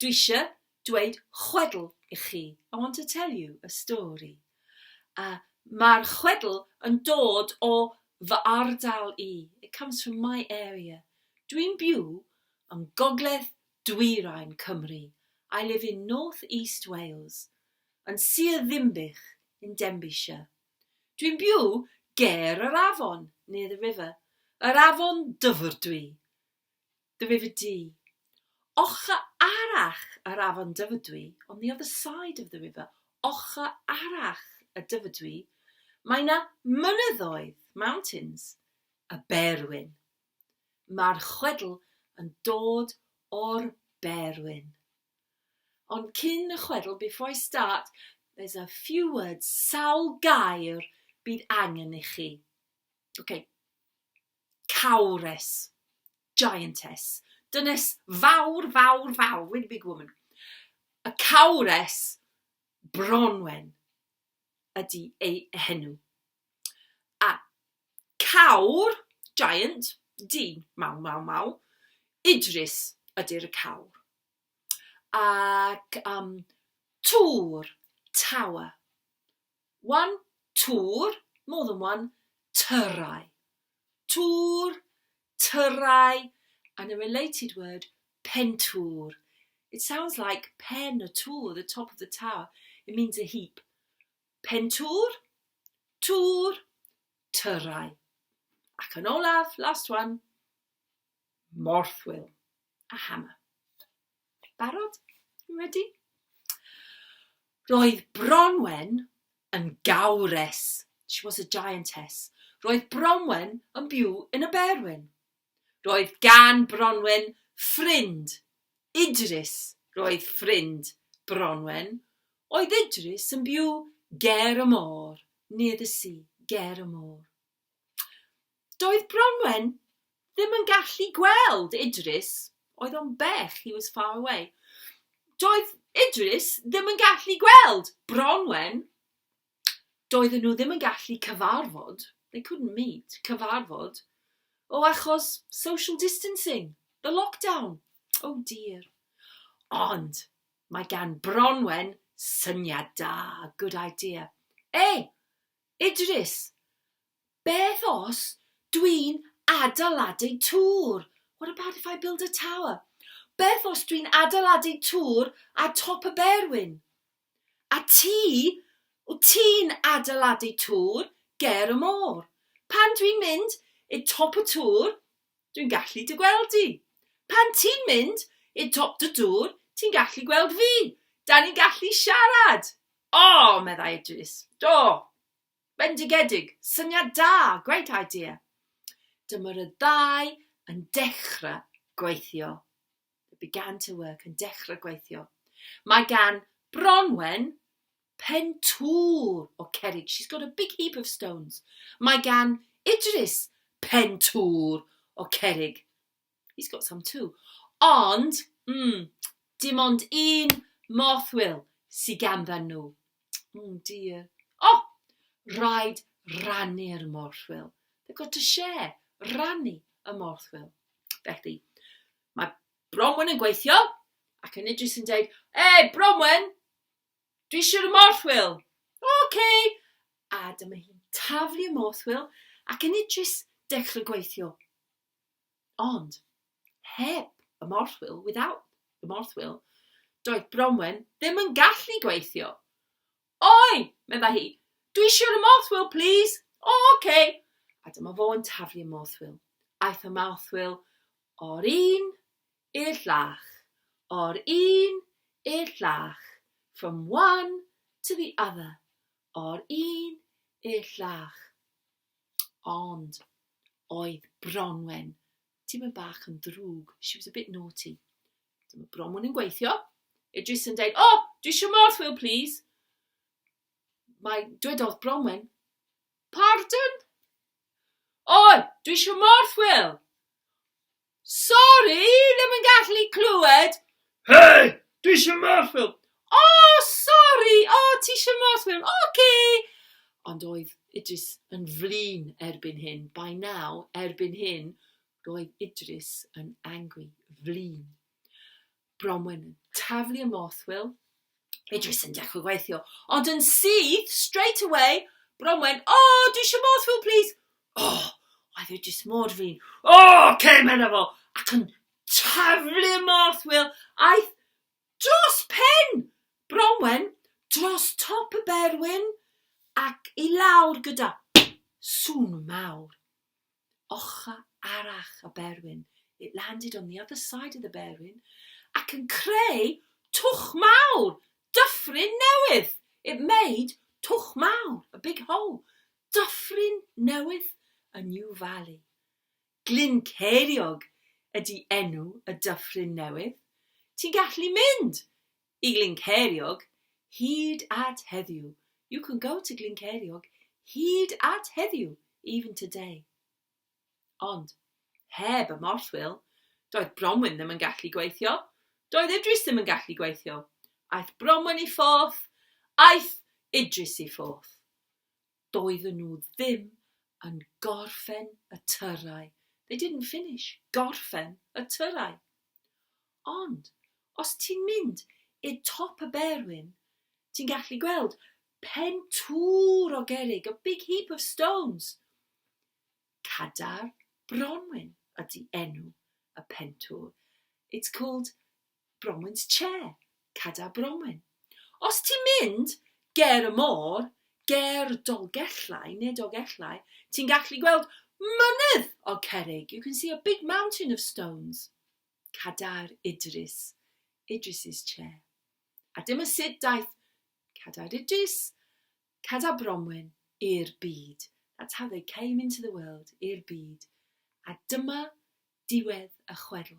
Dwi isio dweud chwedl i chi, I want to tell you a story. A mae'r chwedl yn dod o fy ardal i, it comes from my area. Dwi'n byw yng ngogledd dwyrain Cymru, I live in North East Wales, yn Sir Ddinbych, in Denbighshire. Dwi'n byw ger yr afon, near the river, yr afon Dyfrdwy. Dyfed du. Ochr arall yr afon Dyfrdwy, on the other side of the river, ochr arall y Dyfrdwy, mae 'na mynyddoedd, mountains, y Berwyn. Mae'r chwedl yn dod o'r Berwyn. Ond cyn y chwedl, before I start, there's a few words, sawl gair bydd angen i chi. OK. Cawres. Giantess. Dynes fawr, fawr, fawr. Really big woman. Y cawres Bronwen ydy ei henw. A cawr, giant, dyn, maw, maw, maw, Idris ydy'r y cawr. Ac um, tŵr, tower, One, tŵr, more than one, tyrau. Tŵr, tyrau, and a related word, pentŵr. It sounds like pen y tŵr, the top of the tower. It means a heap. Pentŵr, tŵr, tyrau. Ac yn olaf, last one, morthwyl. a Hannah. Barod? Ni wedi? Roedd Bronwen yn gawres. She was a giantess. Roedd Bronwen yn byw yn y Berwyn. Roedd gan Bronwen ffrind, Idris. Roedd ffrind Bronwen oedd Idris yn byw ger y môr, near the sea, ger y môr. Doedd Bronwen ddim yn gallu gweld Idris. Oedd o'n bell, he was far away. Doedd Idris ddim yn gallu gweld Bronwen. Doedden nhw ddim yn gallu cyfarfod, they couldn't meet, cyfarfod, o achos social distancing, the lockdown. Oh dear. Ond mae gan Bronwen syniad da, good idea. E, Idris, Beth os dwi'n adeiladu tŵr? What about if I build a tower? Beth os dwi'n adeiladu tŵr ar top y berwyn? A ti, wyt ti'n adeiladu tŵr ger y môr? Pan dwi'n mynd i'r top y tŵr, Dwi'n gallu dy gweld di. Pan ti'n mynd i'r top dy dŵr, ti'n gallu gweld fi. Da ni'n gallu siarad! O! meddai Idris. Do! Bendigedig! Syniad da! Great idea! Dyma'r y ddau yn dechrau gweithio. The began to work yn dechrau gweithio. Mae gan Bronwen pen tŵl o cerrig. She's got a big heap of stones. Mae gan Idris pen tŵl o cerrig. He's got some too. Ond, mm, dim ond un moth will sy ganddyn nhw. Oh dear. Oh, rhaid rannu'r morthwyl. They've got to share, rannu y morthwyl. Felly, Mae Bronwen yn gweithio, ac yn Idris yn dweud, E, Bronwen, dwi eisiau y morthwyl. Oce! Okay. A dyma hi'n taflu y morthwyl, ac yn Idris dechrau gweithio. Ond, heb y morthwyl, without the morthwyl, doedd Bronwen ddim yn gallu gweithio. Oi! medda hi. Dwi isio'r morthwyl, plis! O, oce! A dyma fo yn taflu y morthwyl. Aeth y morthwyl o'r un i'r llach, o'r un i'r llach, from one to the other, o'r un i'r llach. Ond oedd Bronwen Tipyn bach yn ddrwg, she was a bit naughty. Dyma bron mwyn yn gweithio. Idris yn deud, oh, dwi eisiau morth wil please. Mae dwedodd Bronwen, pardon? Oi, dwi eisiau morth wil. Sorry, ddim yn gallu clywed. Hei! Dwi eisiau math ffilm! O! Sori! O! Ti eisiau math ffilm? Ok! Ond oedd Idris yn flin erbyn hyn. By now, erbyn hyn, roedd Idris yn angry, flin. Bronwen yn taflu y moth ffilm. Idris yn dechrau gweithio. Ond yn syth, straight away, Bronwen, O! Dwi eisiau moth ffilm, please! O! Oedd Idris mor flin. O! Ok! Medda fo. Ac yn Taflu y Morth Wil aeth dros pen Bronwen, dros top y berwyn ac i lawr gyda sŵn mawr. Ochr arall y berwyn, it landed on the other side of the berwyn, ac yn creu twch mawr, dyffryn newydd. It made twch mawr, a big hole, dyffryn newydd, a new valley. Glyn Ceiriog ydy enw y dyffryn newydd. Ti'n gallu mynd i Glyn Ceiriog hyd at heddiw. You can go to Glyn Ceiriog hyd at heddiw, even today. Ond, heb y morthwyl, doedd Bronwyn ddim yn gallu gweithio. Doedd Idris ddim yn gallu gweithio. Aeth Bronwyn i ffwrth, aeth Idris i ffwrth. Doedden nhw ddim yn gorffen y tyrau. They didn't finish. Gorffen y tyrau. Ond, os ti'n mynd i'r top y berwyn, ti'n gallu gweld pen twr o gerrig, a big heap of stones. Cadar Bronwyn ydy enw y pentwr. It's called Bromwynt Che, Cadair Bromwyn. Os ti'n mynd ger y môr, ger Dolgellau, neu Dogellau, ti'n gallu gweld mynydd o cerrig. You can see a big mountain of stones. Cadair Idris, Idris's Che. A dyma sut daeth Cadair Idris, Cadair Bromwyn, i'r byd. That's how they came into the world, i'r byd. A dyma diwedd y chwedl.